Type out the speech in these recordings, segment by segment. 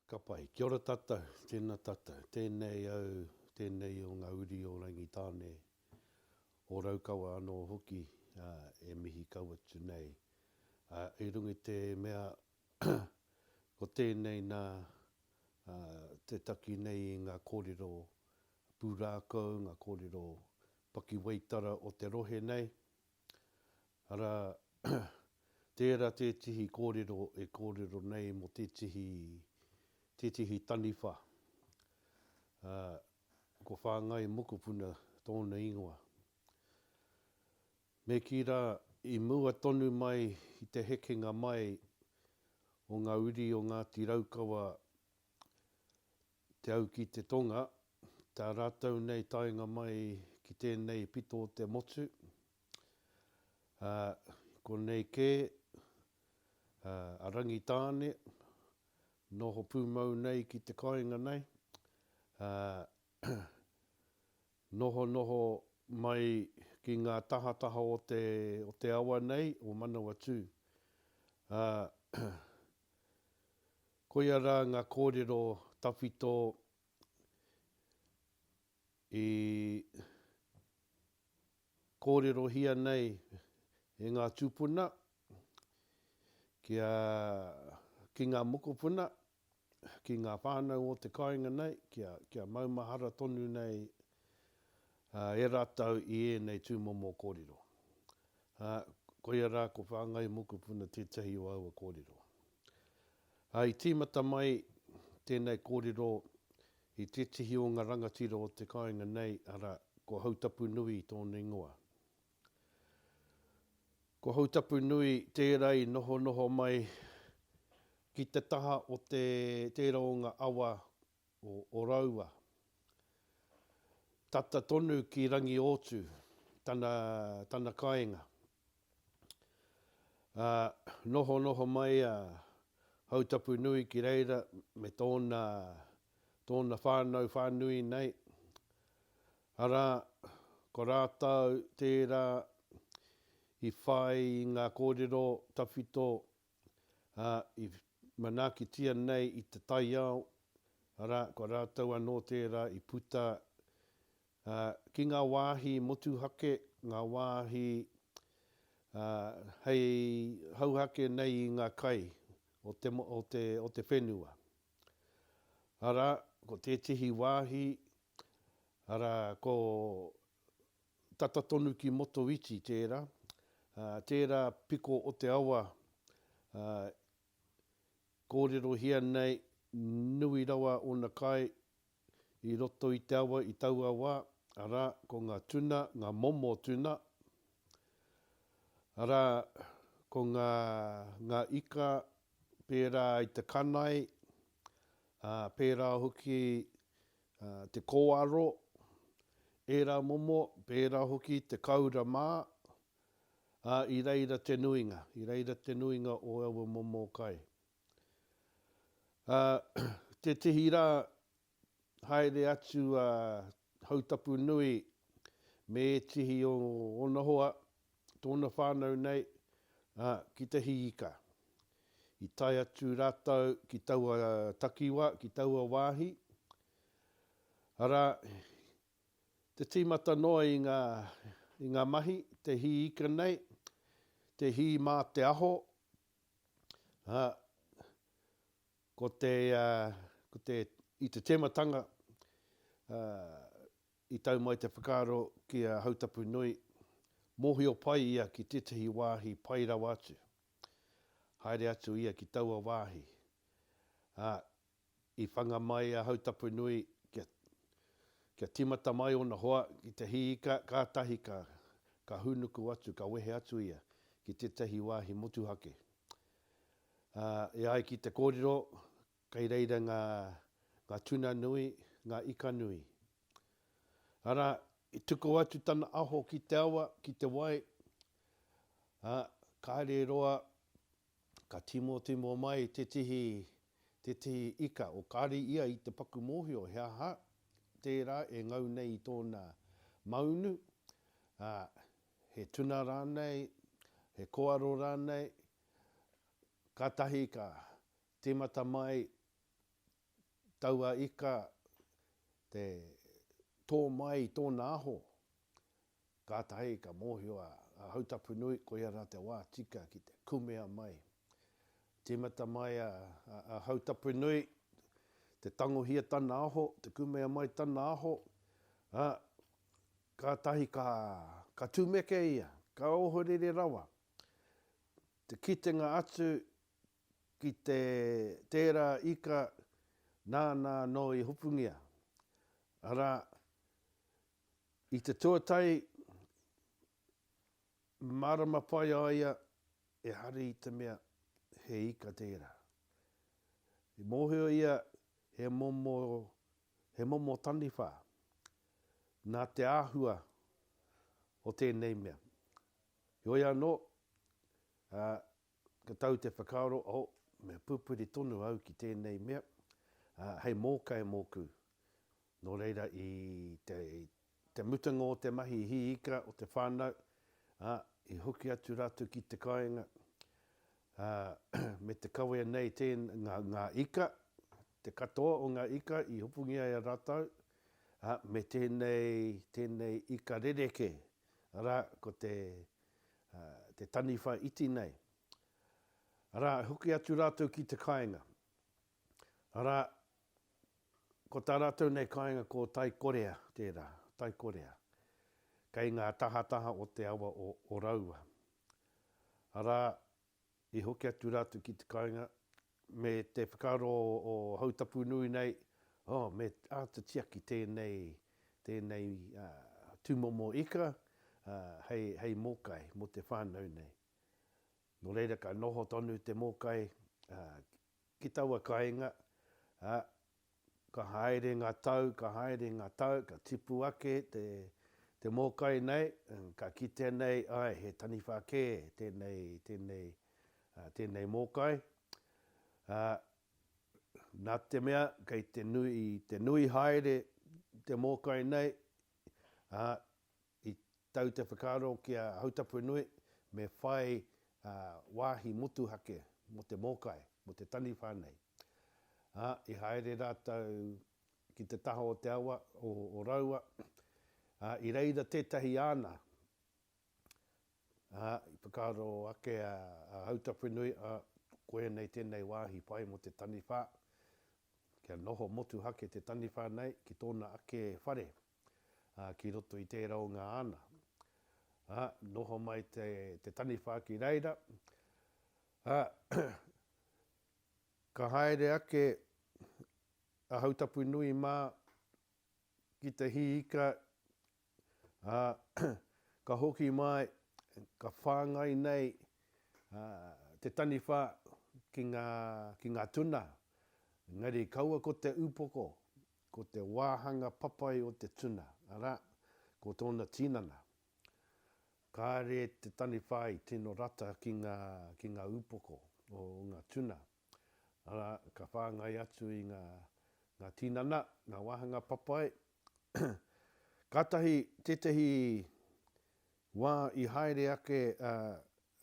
Ka pai. Kia ora tatou, tena tatou, tenei au, tenei o nga uri o Rangitane, o Raukawa ano hoki e mihi kau atu nei. I runga i te mea ko tenei na te taki nei i nga korero purakou, nga korero pakiwaitara o te rohe nei, Arā, tērā tētehi kōrero e kōrero nei mō tētehi, tētehi taniwha, ā, ko Whāngai Mokopuna tōna ingoa. Me kī rā, i mua tonu mai i te hekenga mai o ngā uri o Ngāti Raukawa Te au ki te tonga, tā rātou nei taenga mai ki tēnei pito o te motu, ā, i konei kē, ā, a Rangitāne, noho pūmau nei ki te kāinga nei, ā, nohonoho mai ki ngā tahataha o te, o te awa nei, o Manawatū, ā, Koia rā ngā kōrero tawhito i kōrerohia nei e ngā tūpuna kia, ki ngā mokopuna, ki ngā whānau o te kāinga nei, kia, kia maumahara tonu nei e rātou i ēnei tūmomo kōrero. Koia rā ko Whāngai Mokopuna tētahi o aua kōrero. I tīmata mai tēnei kōrero i tētahi o ngā rangatira o te kāinga nei, arā, ko Hautapunui tōna ingoa. Ko Hautapunui tērā i nohonoho mai ki te taha o tērā o ngā awa o Oroua. Tata tonu ki Rangiōtu tana, tana kainga. Ā, noho noho mai a Hautapunui ki reira me tōna, tōna whānau whānui nei, arā, ko rātou tērā i whai i ngā kōrero tawhito ā, i manaakitia nei i te taiao, arā, ko rātou anō tērā i puta ā, ki ngā wāhi motuhake, ngā wāhi ā, hei hauhake nei i ngā kai o te, o te, o te whenua. Arā, ko tētehi wāhi, arā, ko Tata tonu ki Motoiti tērā, tērā piko o te awa kōrerohia nei nui rawa ōna kai i roto i te awa i taua wā, arā, ko ngā tuna, ngā momo tuna, arā, ko ngā, ngā ika pērā i te kanae, ā, pērā hoki te kōaro, ērā momo, pērā hoki te kāura mā, ā, i reira te nuinga, i reira te nuinga o aua momo kai. Ā, tētehi rā, haere atu a Hautapu-nui me ētehi o ōna hoa, tōna whānau nei, ā, ki Te Hiika. I tae atu rātou ki taua takiwā, ki taua wāhi, arā, te tīmata noa i ngā, i ngā mahi, Te Hiika nei, te hī mā te aho, ā, ko te, ko te, i te tēmatanga, ā, I tau mai te whakaaro ki a Hautapunui, mōhio pai ia ki tētahi wāhi pai rawa atu. Haere atu ia ki taua wāhi, ā, i whanga mai a Hautapunui kia, kia tīmata mai ōna hoa ki te hī ika, kātahi ka, ka hūnuku atu, ka wehe atu ia ki tētahi wāhi motuhake. Ā, e ai ki te kōrero, Kei reira ngā, ngā tuna nui, ngā ika nui. Arā, i tuku atu tana aho ki te awa, ki te wai, ā, kāre e roa, ka tīmōtīmō mai tētehi, tētehi ika, o kāre ia i te paku mōhio he aha tērā e ngau nei i tōna maunu, ā, he tuna rānei, he koaro rānei, kātahi ka, Tīmata mai taua ika te tō mai i tōna aho, kātahi ka mōhio a Hautapunui koia rā te wā tika ki te kumea mai. Tīmata mai a Hautapunui te tangohia tana aho, te kumea mai tana aho, ā, kātahi ka tumeke ia, ka ohorere rawa te kitenga atu ki te tērā ika nāna anō i hopungia, arā, i te tuatahi mārama pai a ia e hari i te mea he ika tērā. I mōhio ia he momo, he momo taniwha nā te āhua o tēnei mea. Heoi anō, Ka tau te whakaaro, oh, me pupuri tonu au ki tēnei mea, ā, hei mōkai mōku. Nō reira, i te, te mutunga o te mahi hī ika o te whānau, ā, i hoki atu rātou ki te kāinga, ā, me te kawea nei tē, ngā, ngā ika, te katoa o ngā ika i hopungia e rātou, ā, me tēnei, tēnei ika rerekē, arā, ko te, te taniwha iti nei, arā, e hoki atu rātou ki te kāinga, arā, ko tā rātou nei kāinga ko Taikorea tērā, Taikorea, kei ngā tahataha o te awa o Raua, arā, I hoki atu rātou ki te kāinga, me te whakaaro o Hautapu nui nei, oh, me āta tiaki tēnei, tēnei tūmomo ika hei, hei mōkai mō te whānau nei. Nō reira ka noho tonu te mōkai ki taua kāinga, ā, Ka haere ngā tau, ka haere ngā tau, ka tipu ake te mōkai nei, ka kitea nei, āe, he taniwha kē tēnei, tēnei, tēnei mōkai. Ā, nā te mea kei te nui, te nui haere te mōkai nei, ā, I tau te whakaaro ki a Hautapuenui me whai wāhi motuhake mō te mōkai, mō te taniwha nei. Ā, i haere rātou ki te taha o te awa o Raua, ā, i reira tētahi āna, ā, i whakaaro ake a Hautapuenui, ā, koianei tēnei wāhi pai mō te taniwha, kia noho motuhake te taniwha nei ki tōna ake whare. ā, ki roto i tērā o ngā ana, ā, noho mai te, te taniwha ki reira, ā, ka haere ake a Hautapunui mā ki te hī ika, ā, ka hoki mai, ka whāngai nei, ā, te taniwha ki ngā, ki ngā tuna, engari kaua ko te upoko, Ko te wāhanga papai o te tuna, arā, ko tōna tinana. Kāre te taniwha i tino rata ki ngā, ki ngā upoko o ngā tuna, arā, ka whāngai atu i ngā, ngā tinana, ngā wāhanga papai. Kātahi tētehi wā i haere ake a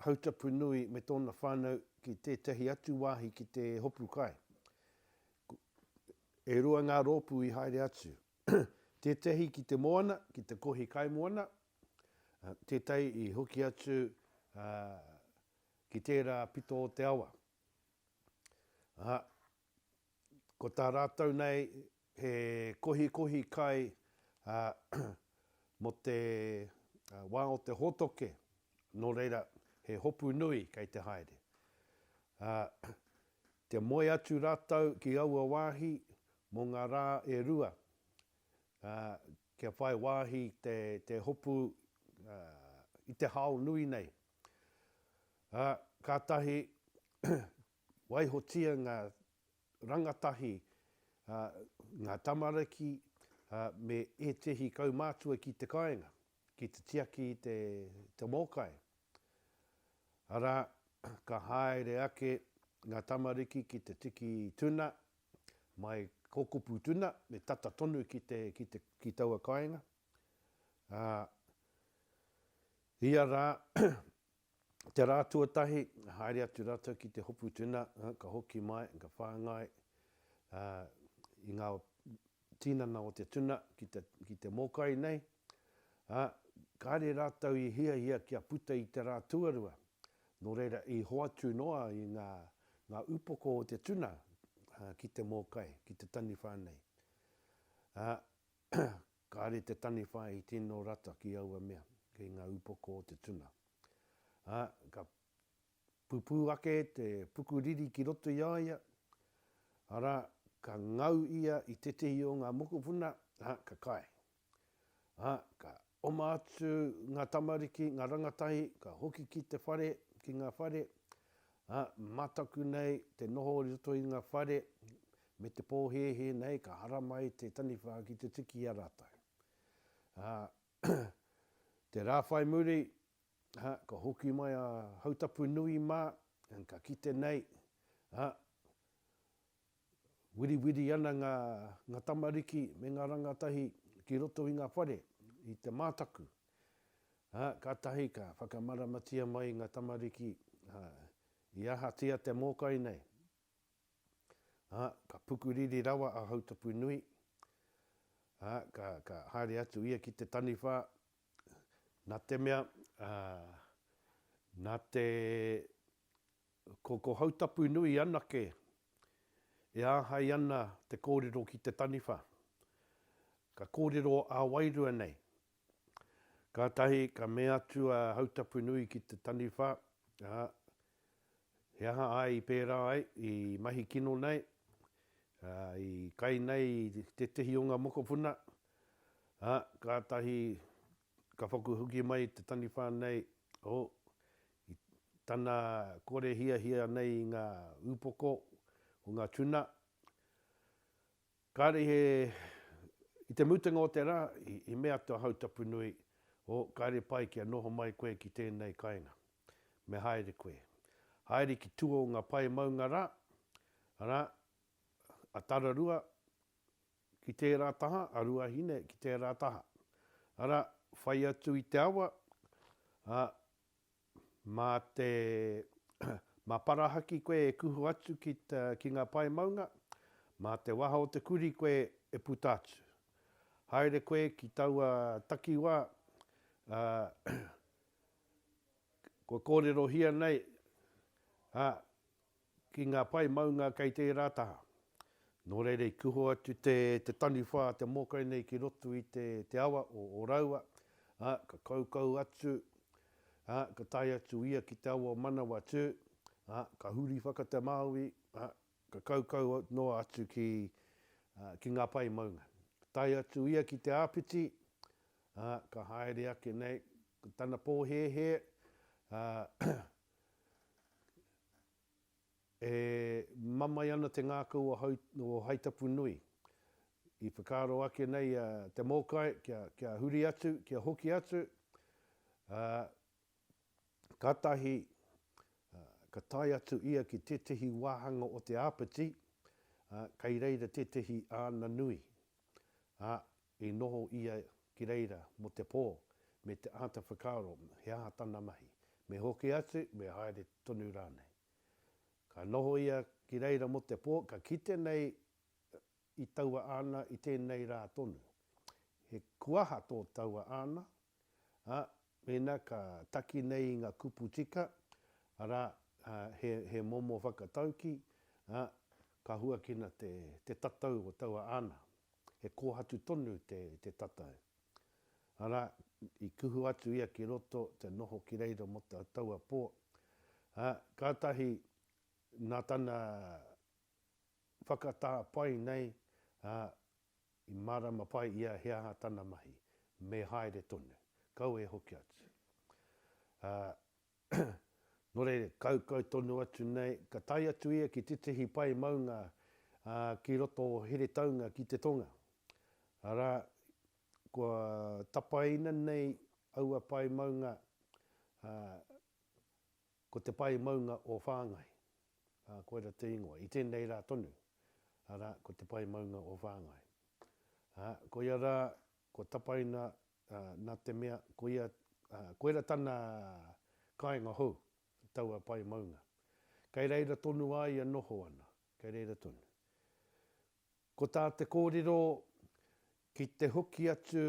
Hautapu nui me tōna whānau ki tētahi atu wāhi ki te hopu kai. E rua ngā rōpū i haere atu. Tētahi ki te moana, ki te kohi kaimoana, tētahi i hoki atu ki tērā pito o te awa. ko tā rātou nei he kohikohi kai mō te wā o te hōtoke, nō reira he hopu nui kei te haere. Kia moe atu rātou ki aua wāhi mō ngā rā e rua kia whai wāhi te hopu i te hao nui nei. Kātahi Waihotia ngā rangatahi, ngā tamariki me ētehi kaumātua ki te kāinga ki te tiaki i te mōkai. Arā, ka haere ake ngā tamariki ki te tiki tuna, mai ko kupu tuna me tata tonu ki taua kāinga. Ā, ia rā, Te rā tuatahi, haere atu rātou ki te hopu tuna, ka hoki mai, ka whāngai i ngā tīnana o te tuna ki te mōkai nei. Kāre rātou i hiahia kia puta i te rā tuarua, nō reira i hoatu noa ai ngā upoko o te tuna ki te mōkai, ki te taniwha nei. Kāre te taniwha i tino rata ki aua mea, ki ngā upoko o te tuna. Ā, ka pupū ake te pukuriri ki roto i a ia, arā, ka ngau ia i tētehi o ngā mokopuna, ā, ka kai. Ā, ka oma atu ngā tamariki, ngā rangatahi, ka hoki ki te whare, ki ngā whare, ā, mataku nei te noho i roto i ngā whare, Me te pōhēhē nei ka harama ai te taniwha ki te tiki i a rātou. Ā, te rā whai muri, ā, ka hoki mai a Hautapu nui mā, ā, ka kite nei, ā, wiriwiri ana ngā, ngā tamariki me ngā rangatahi ki roto i ngā whare, i te mātaku. Ā, kātahi ka whakamaramatia mai ngā tamariki, ā, i ahatia te mōkai nei. Ā, ka pukuriri rawa a Hautapunui, ā, ka, ka haere atu ia ki te taniwha, nā te mea, ā, nā te, ko, ko Hautapunui anake e āhei ana te kōrero ki te taniwha. Ka kōrero ā wairua nei, Kātahi ka mea atu a Hautapunui ki te taniwha, Ā, he aha āe i pērā ai, i mahi kino nei, ā, i kai nei i tētehi o ngā mokopuna? Ā, kātahi ka paku hoki mai te taniwha nei, o, i tana kore hiahia nei i ngā upoko o ngā tuna, Kāre he, i te mutunga o te rā, i mea atu a Hautapunui, O, kāre pai kia noho mai koe ki tēnei kainga. Me haere koe. Haere ki tua o ngā pae maunga rā, arā, a Tararua ki tērā taha, a Ruahine ki tērā taha. Arā, whai atu i te awa, ā, Mā te Mā Parahaki koe e kuhu atu ki te ki ngā pae maunga, mā te waha o te kurī koe e puta atu. Haere koe ki taua takiwā, ā, kua kōrerohia nei, ā, Ki ngā pae maunga kei tērā taha. Nō reira i kuhu atu te te taniwha a te mōkai nei ki roto i te te awa o o raua, ā, ka kaukau atu, ā, ka tae atu ia ki te awa o Manawatū, ā, ka huri whakatemāui, ā, ka kaukau noa atu ki, ā, ki ngā pae maunga. Ka tae atu ia ki te āpiti, ā, ka haere ake nei, ko tana pōhēhē, ā, E mamae ana te ngākau o Haitapunui. I whakaaro ake nei a Te Mōkai kia huri atu, kia hoki atu, ā, kātahi ka tae atu ia ki tētehi wāhanga o te āpiti, ā, kei reira tētehi āna nui. Ā, I noho ia ki reira mō te pō, me te āta whakaaro he aha tana mahi, me hoki atu, me haere tonu rānei. Ka noho ia ki reira mō te pō, ka kite nei i taua āna i tēnei rā tonu. He kuaha tō taua āna, ā, Mēnā ka taki nei i ngā kupu tika, arā, he momo whakataukī, ā, ka huakina te tatau o taua ana, he kōhatu tonu te tatau. Arā, i kuhu atu ia ki roto, te noho ki reira mō taua pō, ā, kātahi nā tana whakatā pai nei, ā, I mārama pai ia he aha tana mahi, me haere tonu. Kau e hoki atu. Ā, nō reira, kaukau tonu atu nei, ka tae atu ia ki tētehi pae maunga, ā, ki roto o Heretaunga ki te tonga. Arā, kua tapaina nei aua pae maunga, ā, Ko te pae maunga o Whāngai, ā, koira te ingoa, i tēnei rā tonu, arā, ko te pae maunga o Whāngai. Ā, koia rā, ko Tapaina, ā, nā te mea, koia, ā, koira tana kāinga hou, taua pae maunga. Kei reira tonu a ia noho ana, kei reira tonu. Ko tā te kōrero, ki te hoki atu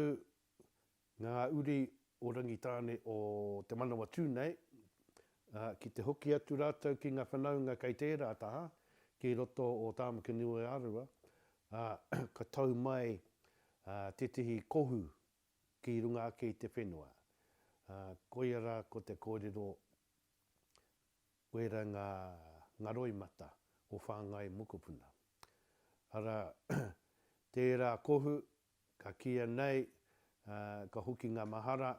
Ngā uri o Rangitāne o Te Manawatū nei, ā, ki te hoki atu rātou ki ngā whanaunga kei tērā taha, ki roto o Tāmaki-niu-Aorua, ā, ka tau mai, ā, tētehi kohu ki runga ake i te whenua. Ā, koia rā ko te kōrero, Wēra ngā, ngā roimata o Whāngai mokopuna. Arā, tērā kohu Ka kīia nei, ka hoki ngā mahara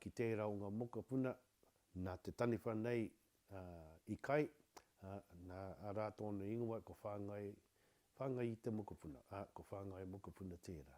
ki tērā o ngā mokopuna nā te taniwha nei i kai, nā rā tōna ingoa ko Whāngai, Whāngai i te mokopuna, ā, ko Whāngai mokopuna tērā.